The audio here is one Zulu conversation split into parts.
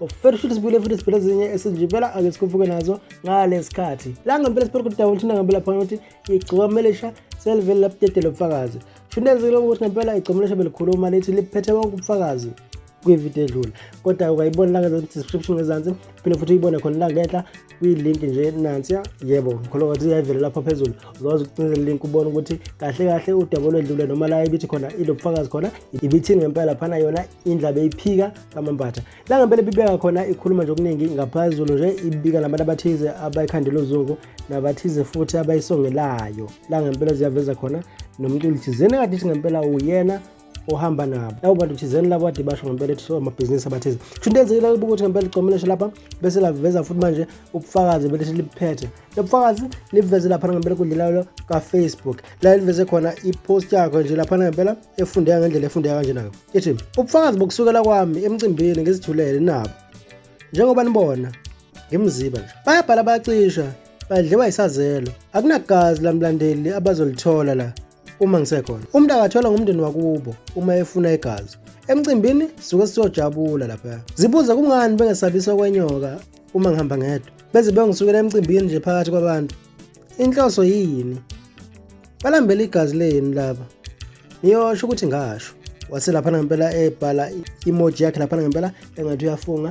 ufela ushuthi sibuyile futhi siphela ezinye esinjibela ake sikhuphuke nazo ngalesikhathi la ngempela siphola ukuthi dawo thina ngempela phana ukuthi igcokamelesha selivele lapudedela ubufakazi shunenzile ukuthi ngempela igcokamelesha belikhuluma lithi liphethe bonke ubufakazi kwividiyo edlule kodwa ukayibona la ngezansi description ngezansi phinde futhi uyibone khona la ngenhla kwi-link nje nansiya yebo ngikholwa ukuthi iyayivela lapha phezulu uzokwazi ukucinza link ubone ukuthi kahle kahle udaba olwedlule noma la ibithi khona ilobufakazi khona ibithini ngempela phana yona indlaba eyiphika kamambatha la ngempela ibibeka khona ikhuluma nje okuningi ngaphezulu nje ibika nabantu abathize abayikhandela uzungu nabathize futhi abayisongelayo la ngempela ziyaveza khona nomculi thizeni akade ithi ngempela uyena ohamba nabo labo bantu thizeni labo kade basho ngempela ethi amabhizinisi abathize kusho into enzekile kuba ukuthi ngempela icombination lapha bese laveza futhi manje ubufakazi belithi liphethe lo bufakazi liveze laphana ngempela enkundleni layo kafacebook la liveze khona ipost yakho nje laphana ngempela efundeka ngendlela efundeka kanjenako ithi ubufakazi bokusukela kwami emcimbini ngizithulele nabo njengoba nibona ngimziba nje bayabhala bayacisha badliwa yisazelo akunagazi lamlandeli abazolithola la uma ngisekhona umuntu akathola ngumndeni wakubo uma efuna igazi emcimbini suke siyojabula lapha zibuze kungani bengesabisa kwenyoka uma ngihamba ngedwa beze bengisukela emcimbini nje phakathi kwabantu inhloso yini balambela igazi lenu laba niyosho ukuthi ngasho wase laphana ngempela ebhala imoji yakhe laphana ngempela engathi uyafunga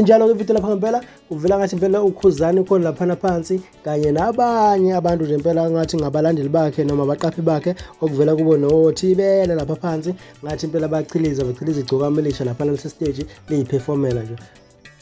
injalo ke video lapha ngempela uvela ngathi impela ukhuzani ukhona laphana phansi kanye nabanye abantu nje impela ngathi ngabalandeli bakhe noma abaqaphi bakhe okuvela kubo nothibele lapha phansi ngathi impela bachiliza bachiliza igcokameli lisha laphana lese stage liyiphefomela nje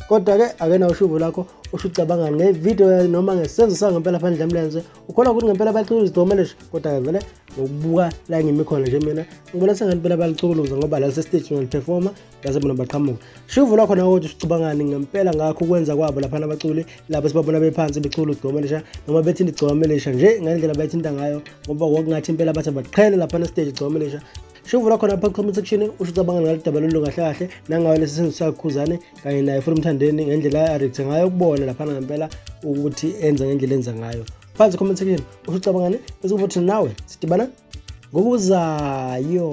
kodwa-ke akena ushuvo lakho usho ucabanga ngevidiyo noma ngesenzo sayo ngempela phandle emlenze ukholwa ukuthi ngempela balicukuluza idomeleshe kodwa-ke vele ngokubuka la ngimikhona nje mina ngibona sengathi impela balicukuluza ngoba la sesiteji ngaliphefoma ngase bona baqhamuka shuvo lwakho nawe ukuthi usicabangani ngempela ngakho ukwenza kwabo laphana abaculi lapho sibabona bephansi becula udomelesha noma bethinta igcomelesha nje ngendlela bayithinta ngayo ngoba kwakungathi impela bathi baqhele laphana esiteji igcomelesha shuvula khona phansi comment section usho ucabanga ngalo daba lolu kahle kahle nangayo lesi senzo sakukhuzane kanye naye futhi umthandeni ngendlela areact ngayo ukubona laphana ngempela ukuthi enza ngendlela enza ngayo phansi comment section usho ucabangani bese ukuthi nawe sidibana ngokuzayo